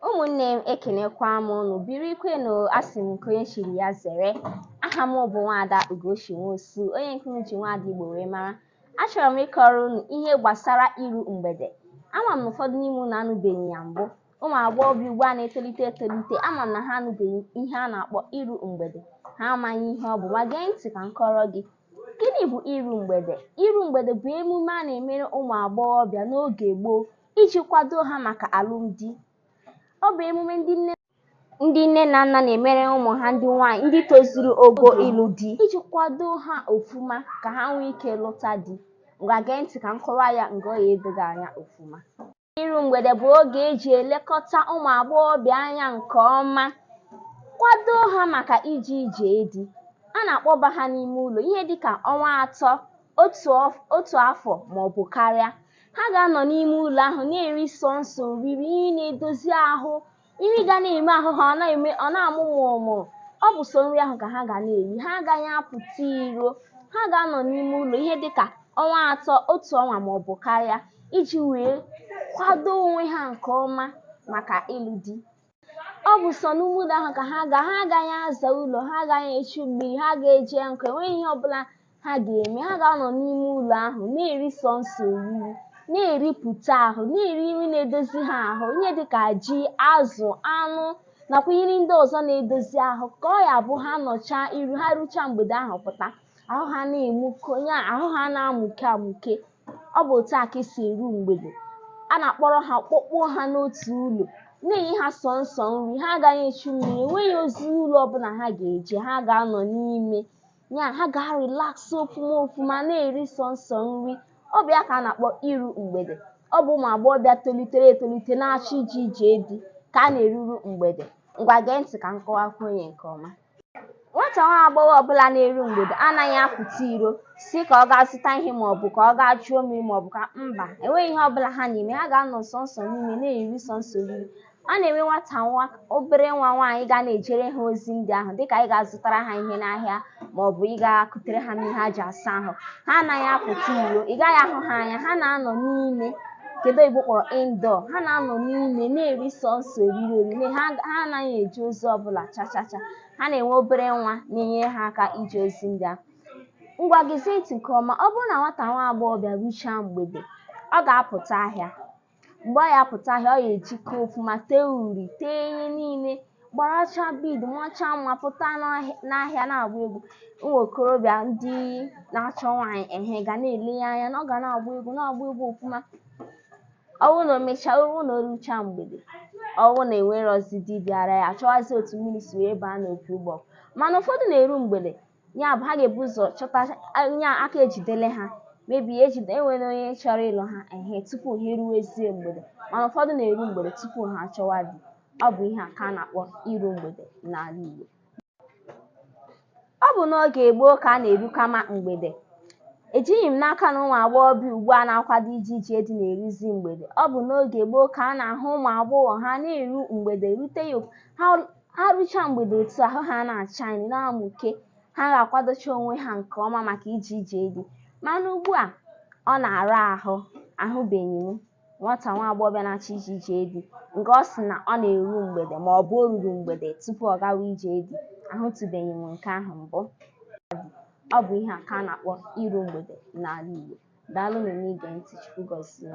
ụmụnne m ekenekwa m unu birikwenụ asị m nke onye chiri ya zere aha m bụ nwaada ugochi nwosu onye nke unu ji nwaada igbo wee mara achọrọ m ịkọrọ unu ihe gbasara iru mgbede ama m na ụfọdụ n'ime unu anụbeghị ya mbụ ụmụ agbọghọbịa ugbu a na-etolite etolite ama m na ha anụbeghị ihe a na-akpọ iru mgbede ha amaghị ihe ọ bụ ma gee ntị ka m kọrọ gị gịnị bụ iru mgbede iru mgbede bụ emume a na-emere ụmụ agbọghọbịa n'oge gboo iji kwado ha maka alụmdi ọ bụ emume ndị nne ndị nne na nna na-emere ụmụ ha ndị nwaanyị ndị tozuru ogo ịlụ di iji kwado ha ofuma ka ha nwee ike lụta di ngwa gee ntị ka m kọwa ya nke ọ ya edo gị anya ofuma Iru mgbede bụ oge e ji elekọta ụmụ agbọghọbịa anya nke ọma, kwado ha maka ije ije di. A na-akpọba ha n'ime ụlọ ihe dị ka ọnwa atọ, otu ọf- otu afọ ma ọ bụ karịa. Ha ga-anọ n'ime ụlọ ahụ na-eri sọnsọ oriri ihe na-edozi ahụ Nri ga na-eme ahụ ha ọ na-amụ mụrụmụrụ. Ọ bụ sọ nri ahụ ka ha ga na-eri. Ha agaghị apụta iro. Ha ga-anọ n'ime ụlọ ihe dị ka ọnwa atọ, otu ọnwa ma ọ bụ karịa iji wee kwado onwe ha nke ọma maka ịlụ di. Ọ bụ sọ n'ime ụlọ ahụ ka ha ga ha agaghị aza ụlọ, ha agaghị echu mmiri, ha agaghị eje nkụ, enweghị ihe ọbụla ha ga-eme ha ga-anọ n'ime ụlọ ahụ na-eri sọnsọ oriri na-eripụta ahụ na-eri nri na-edozi ha ahụ ihe dịka ji azụ anụ nakwa nri ndị ọzọ na-edozi ahụ ka ọ ya bụ ha nọchaa iru ha ruchaa mgbede ahụ pụta ahụ ha na-amụke ya ahụ ha na-amụke amụke ọ bụ otu a ka e si eru mgbede a na-akpọrọ ha kpọkpụọ ha n'otu ụlọ na-enye ha sọnsọ nri ha agaghị echu mmiri enweghị ozi ụlọ ọbụla ha ga-eje ha ga-anọ n'ime ya ha ga-arelax ofuma ofuma na-eri sọnsọ nri ọ bụ ya ka a na-akpọ iru mgbede ọ bụ ụmụ agbọghọbịa tolitere etolite na-achọ ije ije di ka a na-eruru mgbede ngwa gee ntị ka m kọwakwuo onye nke ọma nwata nwa agbọghọ ọbụla na-eru mgbede anaghị apụta iro sị ka ọ gaa zụta ihe ma ọ bụ ka ọ gaa chuo mmiri ma ọ bụ ka mba enweghị ihe ọbụla ha na-eme ha ga-anọ sọnsọ n'ime na-eri sọnsọ oriri a na-enwe nwata nwa obere nwa nwaanyị ga na-ejere ha ozi ndị ahụ dịka ịga zụtara ha ihe n'ahịa ma ọ bụ ịga kutere ha mmiri ha ji asa ahụ ha anaghị apụta iro ị gaghị ahụ ha anya ha na-anọ n'ime nke ndị oyibo kpọrọ indoor ha na-anọ n'ime na-eri sọsọ oriri oriri ha ha anaghị eje ozi ọbụla chachacha ha na-enwe obere nwa na-enyere ha aka ije ozi ndị ahụ ngwa gezie ntị nke ọma ọ bụrụ na nwata nwa agbọghọbịa ruchaa mgbede ọ ga-apụta ahịa mgbe ọ ya-apụta ahịa ọ ya-ejike ọfụma tee uri tee ihe niile gbaracha bead macha mma pụta n'ahịa- n'ahịa na-agba egwu ụmụ okorobịa ndị na-achọ nwaanyị ehe ga na-ele ya anya na ọ ga na-agba egwu na-agba egwu ọfụma ọ bụrụ na o mechaa ọ bụrụ na o ruchaa mgbede ọ bụrụ na enwerọzi di bịara ya a chọwazie otu mmiri si wee baa n'opi ụgbọ mana ụfọdụ na-eru mgbede ya bụ ha ga-ebu ụzọ chọta nya aka ejidele ha maybe ejide enwere onye chọrọ ịlụ ha ehe tupu ha eruwezie mgbede mana ụfọdụ na-eru mgbede tupu ha achọwa di ọ bụ ihe a ka a na-akpọ iru mgbede n'ala Igbo ọ bụ n'oge gboo ka a na-erukama mgbede ejighị m n'aka na ụmụ agbọghọ bi ugbu a na-akwado ije ije di na-eruzi mgbede ọ bụ n'oge gboo ka a na-ahụ ụmụ agbọghọ ha na-eru mgbede rute ya ha ha rucha mgbede otu ahụ ha na-acha na-amụke ha ga-akwadocha onwe ha nke ọma maka ije ije di mana ugbu a ọ na-ara ahụ ahụbeghị m nwata nwa agbọghọ na-achọ ije ije di nke ọ sị na ọ na-eru mgbede ma ọ bụ o ruru mgbede tupu ọ gawa ije di ahụtụbeghị m nke ahụ mbụ ọ bụ ihe a ka a na-akpọ iru mgbede n'ala Igbo daalụ na ige ntị Chukwu gọzie